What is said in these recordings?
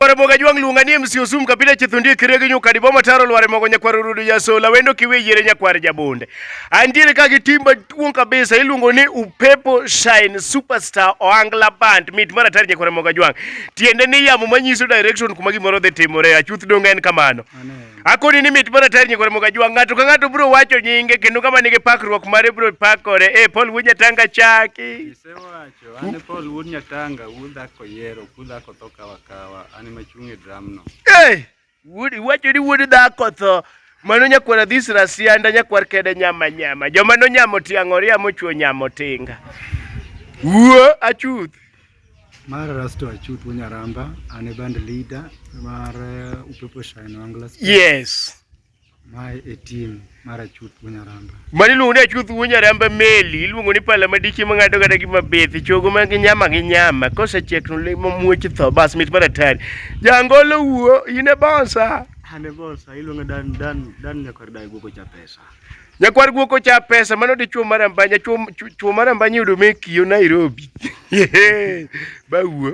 Kwaro moga jwang' luonga ni MC Osum kapita chithundi kire gi nyuka dibo mataro lware mogo nyakwar rudu ya sola wendo kiwe yire nyakwar jabonde. Andiere ka gi timba tuong kabisa iluongo ni upepo shine superstar oangla band mit mara tar nyakwar moga jwang'. Tiende ni yamo manyiso direction kuma gimoro dhi timore achuth donga en kamano. Akoni ni mit mara tar nyakwar moga jwang' ng'ato ka ng'ato bro wacho nyinge kendo kama nigi pakruok mare bro pakore. Eh Paul Wuja Tanga chaki. An Paul wuod Nyatanga, wuod dhako yiero, wuod dhako tho kawa kawa, an ema achung' e dramno. Hey! Wuod iwacho ni wuod dhako tho. Mano nyakwar adhis rasianda nyakwar kede nyama nyama. Joma nonyamo tiang'oria mochwo nyamo tinga. Wuo achuth. Mar Rasto Achuth Wunyaramba, an e band leader mar uh, Upepo Shine Wanglast. Yes. Mae e tim mar achuth Bunyaramba. Mani iluongo ni achuth Bunyaramba meli, iluongo ni pala madiche mang'ado kata gima bethi, chogo ma gi nyama gi nyama, kosechiek to lemo muoch tho, bas mit mar atari. Jangolo wuo, in e bonsa. An e bonsa, iluongo dan dan dan nyakwar dai guoko cha pesa. Nyakwar guoko cha pesa, mano dichuo mar ambanya, chuo mar ambanya yudo me kiyo Nairobi. Ba wuo.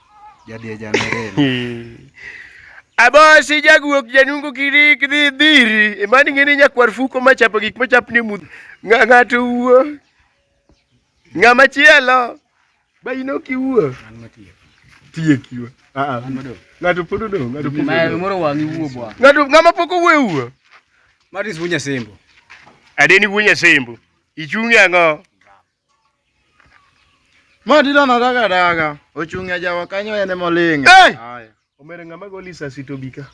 Abosi jagwok janungo kiri kidhi dhiri mani e ng'eni nyakwar fuko machapo gik machapni e mudho ng'ato wuo ng'ama chielo ba in ok iwuo tiekiwa ah, ah. ng'ato pod odong' ng'ato pod odong' ng'ato ng'ama pok owuo ewuo Maris wuo nyasembo adeni wuo nyasembo ichung'e ang'o Ma dilo na daga daga. Ochung' e jawa kanyo en ema oling'. Hey! Haya. Omere ng'ama goli sasi to bika.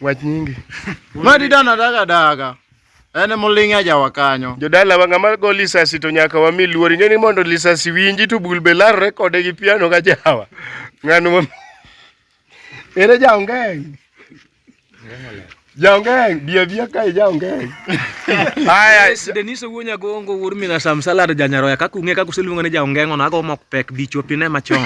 Wach nyingi. Ma dilo na daga daga. En ema oling' e jawa kanyo. Jodala wa ng'ama go lisasi to nyaka wami luor ing'e ni mondo lisasi winji to bul be larre kode gi piano ka jawa. Ng'ano ma Ere jaongeng. Jaongeng, bia bia kae jaongeng. Haya, Denise Wuonya Gongo wuod Mina Sam Salad Janyaroya kaka ung'e kaka useluongo ni jaongeng ono ago mok pek bichopine machon.